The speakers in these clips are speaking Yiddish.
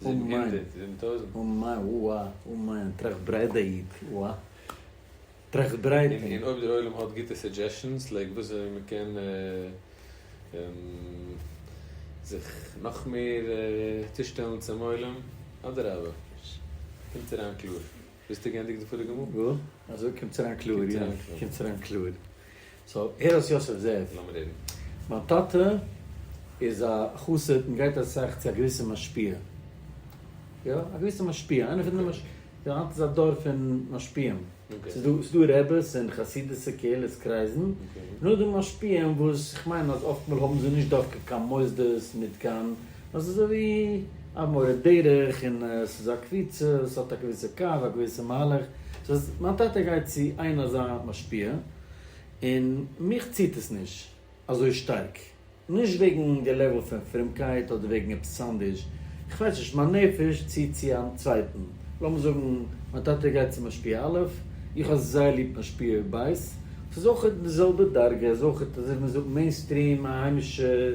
זיבן הונדערט? זיבן טויזנט? און מיין וואו א און מיין טראכט ברייט דער איד וואו א טראכט ברייט און אויב דער עולם האט גוטע סעדזשעשאנס לייק וואס אזוי מען קען זיך נאך מער צושטעלן צום עולם אדרבה קומט אריין קלאר. ביסטו גענדיגט די פאריגע מאל? וואו? אזוי קומטס אריין קלאר, יא, קומטס אריין קלאר. סאו, הער וואס יוסף זאגט. לאמיר הערן. מיין טאטע איז א חסיד און גייט אסאך צו א געוויסע משפיע. יא, א געוויסע משפיע. איינער פון די מש. יא, היינט איז א דור פון משפיעים. ס'איז דא, ס'איז דא רעבעס און חסידות'ע קהילות קרייזן, און אויך די משפיעים וואס, כ'מיין אז אפטמאל האבן זיי נישט דווקא קיין מוסדות מיט קיין. אז אזוי ווי א מורה דרך און עס איז א קבוצה וואס האט א געוויסע קו א געוויסע מהלך, סאו אז מיין טאטע גייט צו איין אזא משפיע און מיך ציט עס נישט אזוי שטארק, נישט וועגן די לעוועל פון פרומקייט אדער וועגן עפעס אנדערש, איך ווייס נישט, מיין נפש ציט צו א צווייטן, לאמיר זאגן מיין טאטע גייט צו משפיע א', איך האב זייער ליב משפיע ב', ס'איז אויך די זעלבע דרגה, איז אויך אזוי ווי מען זאגט מעין סטרים א היימישע.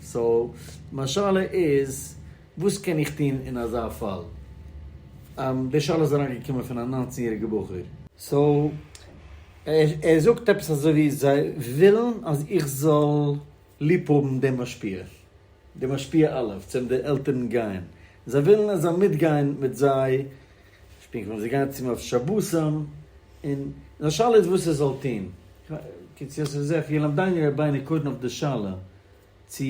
סאו, מיין שאלה איז, וואס קען איך טון אין אזא פאל? די שאלה איז אריין געקומען פון א נײַנצן יעריגע בחור. סאו, ער זאגט עפעס אזוי ווי זיי ווילן אז איך זאל ליב האבן דעם משפיע, דער משפיע א' צו וועם די עלטערן גייען, זיי ווילן איך זאל מיטגיין מיט זיי שפילן כדורגל, זיי גייען צו אים אויף שבתים, און זיין שאלה איז וואס ער זאל טון. קיצור, ס'איז אויף ילמדני רבינו קודם אויף די שאלה. צו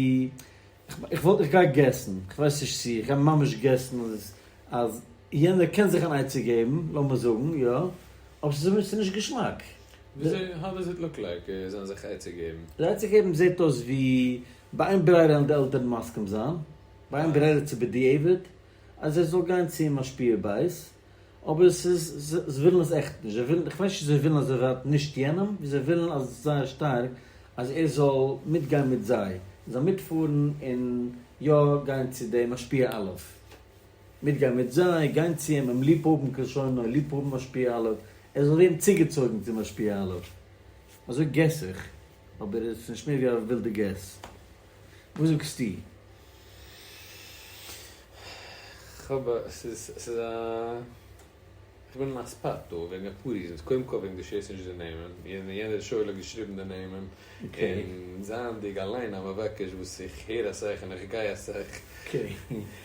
איך וואלט איך גיי געסן, איך ווייס נישט צו, איך גיי ממש געסן אז אז יענער קען זיך אן עצה געבן, לאמיר זאגן יא, אבער ס'איז אויב ס'איז נישט געשמאק. וויאזוי האו דאז איט לוק לייק זיי זאלן זיך עצה געבן? די עצה געבן זעט אויס ווי ביי איין ברירה וועלן די עלטערן מסכים זיין, ביי איין ברירה צו בדיעבד אז ער זאל גיין צום משפיע בית, אבער עס איז, זיי ווילן עס עכט נישט, זיי ווילן, איך ווייס נישט צו זיי ווילן אז ער ווערט נישט יענעם, ווי זיי ווילן אז זייער שטארק אז ער זאל מיטגיין מיט זיי, און זיי מיטפארן און יא גיין צו דעם משפיע א', מיטגיין מיט זיי, גיין צו אים, אים ליב האבן כלשונו, ליב האבן משפיע א', ער זאל ווערן צוגעצויגן צו משפיע א'. אזוי געס איך, אבער עס איז נישט מער ווי א ווילדע געס. וואס זאגסטו? כ'האב א, ס'איז, ס'איז א, כ'בין אין א ספאט דא וועגן אפאר ריזענס, קודם כל וועגן די שערסט נישט די נעמען, יענער שואל האט געשריבן די נעמען, און זייענדיג אליין א מבקש וואס איך הער אסאך און איך גיי אסאך,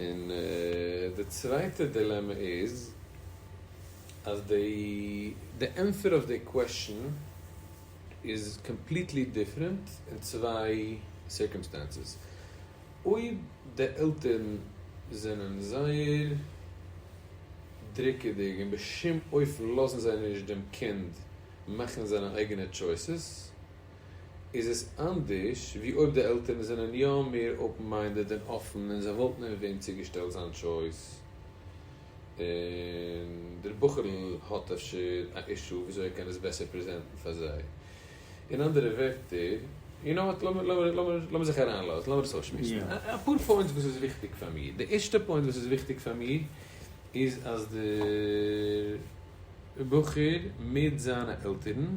און די צווייטע דילעמע איז אז די ענטפער אויף די קוועשאן איז קאמפליטלי דיפרענט אין צוויי סירקאמסטענסעס. אויב די עלטערן זענען זייער דרוקעדיג און בשום אופן לאזן זיי נישט דעם קינד מאכן זיינע אייגענע טשויסעס, איז עס אנדערש ווי אויב די עלטערן זענען יא מער אופן מיינדעד און אפן און זיי וואלטן אים ווען צוגעשטעלט זיין טשויס און דער בחור'ל האט אפשר א אישו וויאזוי ער קען עס בעסער פרעזענטן פאר זיי. אין אנדערע ווערטער, יו נאו וואט, לאמיר זיך אריינלאזן, לאמיר עס אויסשמועסן. אפאר פוינטס וואס איז וויכטיג פאר מיר. די ערשטע פוינט וואס איז וויכטיג פאר מיר איז אז דער בחור מיט זיינע עלטערן,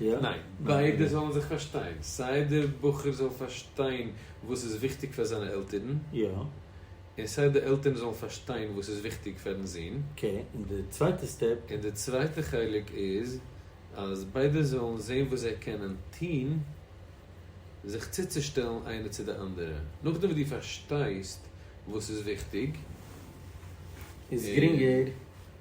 ניין, ביידע זאלן זיך פארשטיין, סיי דער בחור זאל פארשטיין וואס איז וויכטיג פאר זיינע עלטערן, און סיי די עלטערן זאלן פארשטיין וואס איז וויכטיג פארן זון, און די צווייטע חלק איז אז ביידע זאלן זען וואס זיי קענען טון זיך צוצושטעלן איינע צו די אנדערע, נאכדעם וואס דו פארשטייסט וואס איז וויכטיג, איז גרינגער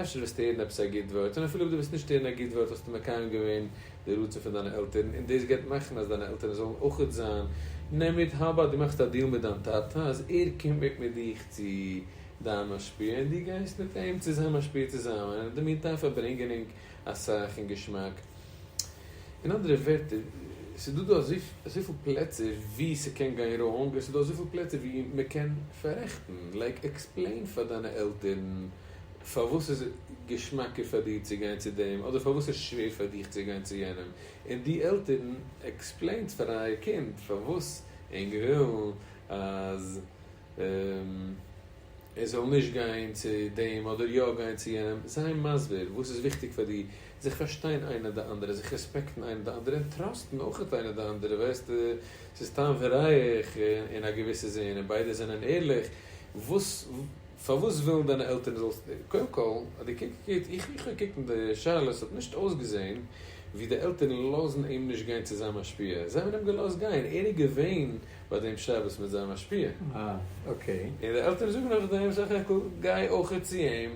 אפשר וועסטו הערן עפעס א גוט ווארט, און אפילו אויב דו וועסט נישט הערן א גוט ווארט האסטו מקיים געווען די רצון פון דיינע עלטערן, און דאס גייט מאכן אז דיינע עלטערן זאלן אויך זיין, נעם מיט הב ד דו מאכסט א דיעל מיט דיין טאטע אז ער קומט מיט מיט דיך צו דיין משפיע און דו גייסט מיט אים צו זיין משפיע צוזאמען, און אין די מין טיים פארברענגען ענק אסאך און געשמאק. אין אנדערע ווערטער, ס'איז דא דא אזויפיל פלעצער ווי ס'קען גיין ראונג, און ס'איז דא אזויפיל פלעצער ווי מ'קען פאררעכטן, לייק עקספלעין פאר דיינע עלטערן, פארוואס איז געשמאקער פאר דיר צו גיין צו דעם אדער פארוואס איז שווער פאר דיך צו גיין צו יענעם, און די עלטערן עקספלעינטס פאר אייער קינד פארוואס ענק ווילן אז ער זאל נישט גיין צו דעם אדער יא גיין צו יענעם, זיי מסביר וואס איז וויכטיג פאר דיר, זיך פארשטיין איינער די אנדערע, זיך רעספעקטן איינער די אנדערע און טראסטן אויך איינער די אנדערע, ווייסטו ס'איז טעם פון רייך אין א געוויסע זין און ביידע זענען ערליך, וואס. פארוואס ווילן דיינע עלטערן זאלסט די, קודם כל האט די קינד געקוקט, איך איך האב געקוקט אין די שאלות האט נישט אויסגעזעהן ווי די עלטערן לאזן אים נישט גיין צו זיין משפיע, זיי האבן אים געלאזט גיין, ער איז געווען ביי דעם שבת מיט זיין משפיע, און די עלטערן זאגן נאכדעם זאך העקל גיי אויכעט צו אים,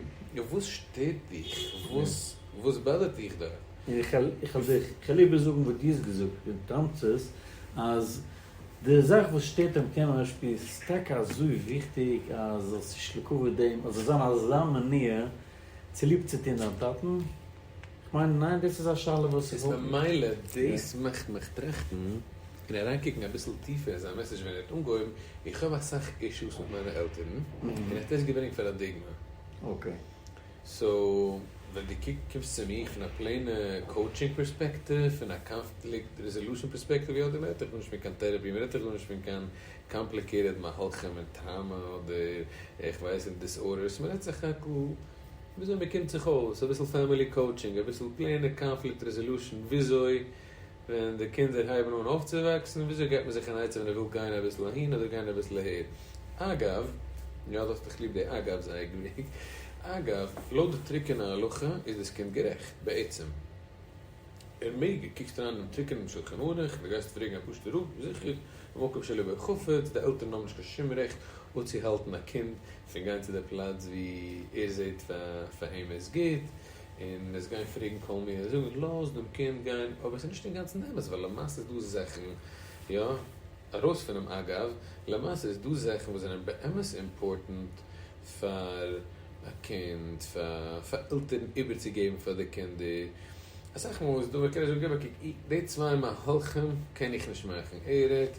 וואס שטערט דיך, וואס וואס באדערט דיך דארט? און איך וועל דיך, איך וועל איבערזאגן וואס דו האסט געזאגט, און תמצית אז די זאך וואס שטערט דעם קעמרע אויף שפיל איז טאקע אזוי וויכטיג אז זאלסט נישט לקבל דעם אז זאל זיין אזא מניעה צוליב צו טון דיין טאטן? כ'מיין ניין דאס איז א שאלה וואס איך וואלט נישט. איז ממילא דאס מאכט מיך טראכטן און אריינקוקן אביסל טיפער אין זיין מעסעדזש ווען ער האט אנגעהויבן, איך האב אסאך אישוס מיט מיינע עלטערן און איך טויש געווענליך פאראדיגמע. אקעי. סאו ווען דו קוקסט צו מיר פון א פלעינע קאוטשינג פערספעקטיוו, פון א קאנפליקט רעזעלושען פערספעקטיוו, יא, דא רעדט איך גארנישט פון קיין טערעפי, מען רעדט דאך גארנישט פון קיין קאמפליקעיטעד מהלכים און טראמא אדער איך ווייס נישט דיסארדערס, מען רעדט סך הכל וויאזוי מען קומט זיך אויס, אביסל פעמילי קאוטשינג, אביסל פלעינע קאנפליקט רעזעלושען, וויאזוי ווען די קינדער הייבן אן אויפצווואקסן, וויאזוי געבט מען זיך אן עצה ווען ער וויל גיין אביסל אהין אדער גיין אביסל אהער? אגב, יא דאך האסט דאך ליב די אגב'ס אייגנליג, אגב, לויט די טרוקענע הלכה איז דאס קינד גערעכט, בעצם, ער מעג, ער קוקט אריין דעם טרוקענעם שולחן ערוך, די גייסט פרעגן א פשוט'ע רב, זיכער, במקום שלעבער חפץ, די עלטערן האבן נישט קיין שום רעכט אפצוהאלטן א קינד פון גיין צו די פלאץ ווי ער זעט פאר אים איז גוט, און מ'איז גייען פרעגן כל מי און זאגן לאז דעם קינד גיין, אבער ס'איז נישט אינגאנצן אמת ווייל למעשה איז דא זאכן, יא, ארויס פונעם אגב, למעשה איז דא זאכן וואס זענען באמת אימפארטענט פאר א קינד, פאר עלטערן איבערצוגעבן פאר די קינדער, אסאך מאל איז דא ווען קען איך זאגן גיב א קוק, די צוויי מהלכים קען איך נישט מאכן, ער רעדט.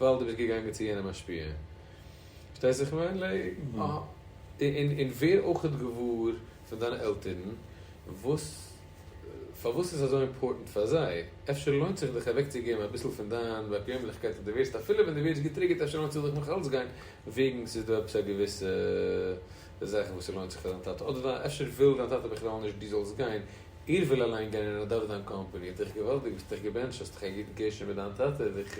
ווייל דו ביסט געגאנגען צו יענע משפיע. פארשטייסט וואס איך מיין? און ווער אויך איז געוואר פון דיינע עלטערן וואס פארוואס איז אזוי אימפארטענט פאר זיי. אפשר לוינט זיך דיך אוועקצוגעבן אביסל פון דיין באקוועמליכקייט אז דו ווערסט אפילו ווען דו ווערסט געטריגערט אפשר לוינט זיך דיך נאך אלץ גיין וועגן ס'איז דא עפעס א געוויסע זאך וואס ס'לוינט זיך פאר דיין טאטע אדער אפשר וויל דיין טאטע בכלל נישט דו זאלסט גיין איך וויל אליין גיין אין ר' דוד דיין קאמפעני, האט דיך געוואלדיג, האסט דיך געבענטשט, האסט דיך א גוט געשען מיט דיין טאטע, זיך,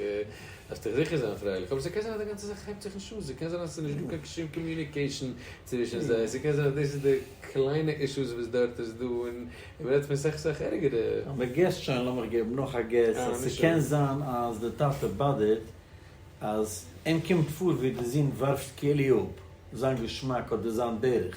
האסט דיך זיכער זיין פרייליך, אבער ס'קען זיין אז די גאנצע זאך הייבט זיך נישט אן, ס'קען זיין אז ס'איז נישט דא קיין שום קאמיוניקעישן צווישן זיי, ס'קען זיין אז דאס איז די קליינע אישוס וואס דארט איז דא, און און מ'רעדט פון סאך סאך ערגערע. אז מ'געסט שוין, לאמיך געבן נאך א געס, אז ס'קען זיין אז די טאטע באדערט אז אים קומט פאר ווי די זון ווארפט כעלי' אפ זיין געשמאק אדער זיין דרך,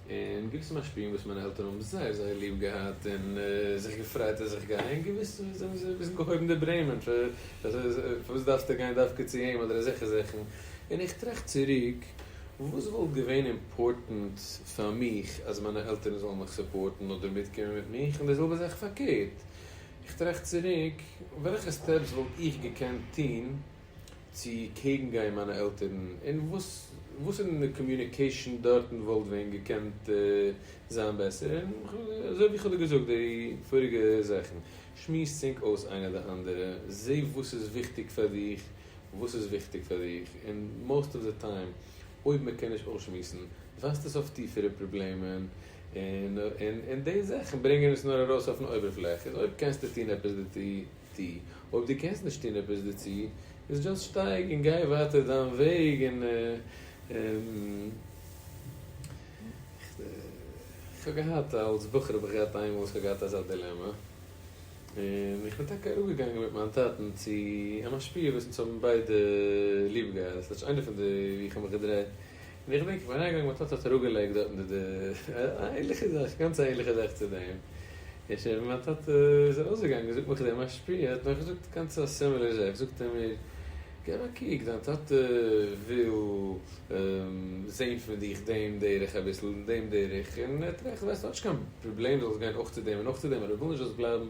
און געוויסע משפיעים וואס מיינע עלטערן האבן זייער זייער ליב געהאט און זיך געפרייט אז איך גיי אהין, געוויסע האבן זיי אביסל געהויבן די ברעמען, פארוואס דארפסטו גיין דווקא צו אים אדער אזעלכע זאכן, און איך טראכט צוריק וואס וואלט געווען אימפארטענט פאר מיך אז מיינע עלטערן זאלן מיך סופארטן אדער מיטקומען מיט מיך, און די זעלבע זאך פארקערט, איך טראכט צוריק וועלכע סטעפס וואלט איך געקענט טון. צו קעגן גיין מיינע עלטערן און וואס וואס אין די קאמיוניקעישן דארטן וואלט ווען געקענט זיין בעסער און אזוי ווי איך האב דיר געזאגט די פאריגע זאכן שמועס צינק אויס איינער די אנדערע זע וואס איז וויכטיג פאר דיך וואס איז וויכטיג פאר דיך און מאוסט אוו די טיים אויב מען קען נישט אויסשמועסן ווייזט עס אויף טיפערע פראבלעמען און און די זאכן ברענגען עס נאר ארויס אויפן אויבערפלעך איז אויב קענסטו טון עפעס די די, אויב די קענסט נישט טון עפעס דערצו, איז דזשאסט שטייג און גיי ווייטער דיין וועג און איך האב געהאט אלס בחור האב איך געהאט איינמאל וואס איך האב געהאט אזא דילעמע און איך בין טאקע אראפ געגאנגען מיט מיין טאטן צו א משפיע וואס אונז האבן ביידע ליב געהאט, ס'האט נישט איינער פון די ווי איך האב מיך געדרייט. און איך דענק איך בין אריינגעגאנגען מיין טאטע האט אראפגעלייגט דארטן די די א ענליכע זאך גאנץ א ענליכע זאך צו דעם און שוין ווען מיין טאטע איז ארויסגעגאנגען זאגט מיך דער משפיע ער האט מיך געזאגט גאנץ א סימילער זאך זאגט ער מיר געב א קוק דיין טאטע וויל זעהן פון דיך דעם דרך אביסל און דעם דרך און ער טראכט ווייסט ער האט נישט קיין פראבלעם דו זאלסט גיין אויך צו דעם און אויך צו דעם אבער ער וויל נישט דו זאלסט בלייבן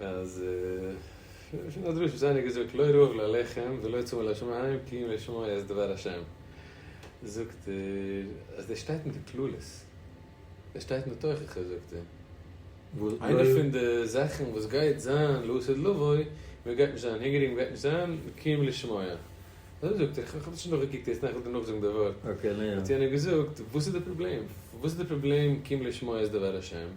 אז פון א דרוש וואס איינער האט געזאגט לא רעב ללחם ולא צמא לשמים כי אם לשמוע את דבר השם זאגט ער אז דער שטייט אין די כללות דער שטייט אין די תוכחה זאגט ער וואס איינע פון די זאכן וואס גייט זיין לעתיד לבוא מען גייט נישט זיין הונגעריג מען גייט נישט זיין כי אם לשמוע אזוי זאגט ער כ'האב נישט נאכגעקוקט יעצט נאך איך וועל דיר נאכזאגן די ווארט האט יענער געזאגט וואס איז די פראבלעם וואס איז די פראבלעם כי אם לשמוע את דבר השם.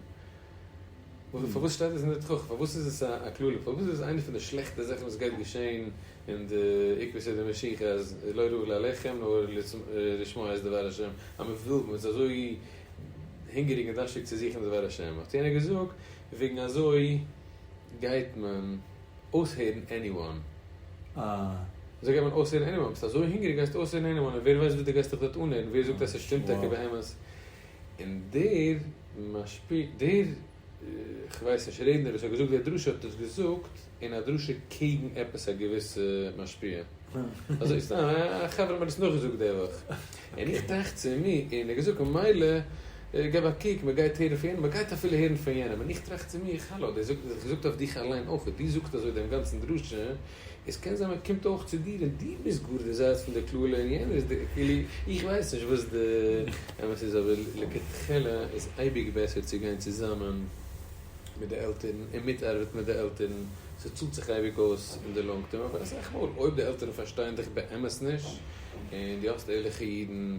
פארוואס שטייט דאס אין די תוכחה? פארוואס איז עס א קללה? פארוואס איז עס איינע פון די שלעכטע זאכן וואס גייט געשען אין די עיקרי סדר משיחי אז לא ראו לאלעכם נאר לשמוע את דבר השם אז מען וויל מען איז אזוי הונגעריג און דארשטיג צו זוכן דבר השם האט יענער געזאגט וועגן אזוי גייט מען אויסהערן עניוואן אזוי גייט מען אויסהערן עניוואן ביסט אזוי הונגעריג גייסטו אויסהערן עניוואן און ווער ווייסט וואס די גייסט דיך דארט אנהערן ווער זאגט אז ס'שטימט טאקע באמת און דער משפיל, דער, כ'ווייס נישט, רעדנער וואס האט געזאגט דער דרשה האט דאס געזאגט אין א דרשה קעגן עפעס א געוויסע משפיע. אזוי סתם, א חבר האט מיר דאס נאכגעזאגט די וואך. און איך טראכט צו מיר, און ער האט געזאגט ממילא געב א קוק, מען גייט הערן פון יענעם, מען גייט אפילו הערן פון יענעם. און איך טראכט צו מיר, האלא, דער זאגט, דער זאגט אויף דיך אליין אויך, דו זאגסט אזוי דעם גאנצן דרשה, עס קען זיין מען קומט אויך צו דיר און דו ביסט גאר דער זייט פון דער קללה און יענער איז דער כאילו איך ווייס נישט וואס די אמת איז אבער לכתחלה איז אייביג בעסער צו גיין צוזאמען מיט די עלטערן און מיטארבעטן מיט די עלטערן ס'צאלט זיך אייביג אויס אין די לאנג טערם אבער אסאך מאל אויב די עלטערן פארשטייען דיך באמת נישט און דו האסט ערליכע אידן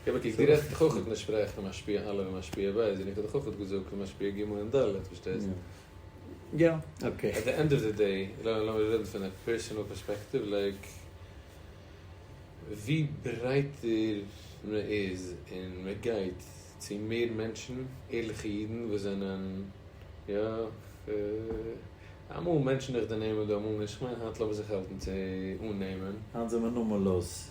איך האב עטליעסט גערעכט איך אויך נישט שפרעך פון משפיע א' און משפיע ב' זיני כ'האב דאך אויך אט געזאגט פון משפיע ג' און ד' פארשטייסט? יא אקעי. עט די ענד אוו די דעי לאמיר רעדן פון א פערסענעל פערספעקטיוו לייק ווי ברייטער מען איז און מען גייט צו מער מענטשן ערליכע אידן וואס זענען יא אמאל מענטשן איך דערנעם און דא אמאל נישט כ'מיין היינט לאמיר זיך האלטן צו אננעמען. היינט זעמער נארמאל לאז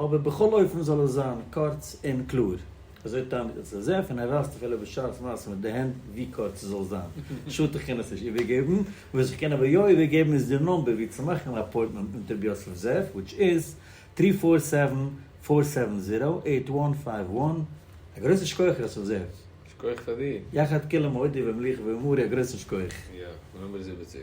אבער בכל אופן זאל עס זיין קורץ און קלאר. אזוי טענה'ט דער צ ז, און ער ווייזט אפילו בשעת מעשה מיט די הענט ווי קורץ עס זאל זיין. שאדט איך קען עס נישט איבערגעבן. וואס איך קען אבער יא איבערגעבן איז די נומבער ווי צו מאכן אן אפוינטמענט מיט רבי יוסף ז ל, וויטש איז, טרי פאר סעווען פאר סעווען זירא עיט וואן פייוו וואן. א גרויסן שכוח ר' יוסף זאב. שכוח פאר דיר. יחד כולם הודיע ומליך ואמורי א גרויסן שכוח. יא, נאמבער זיבעציק.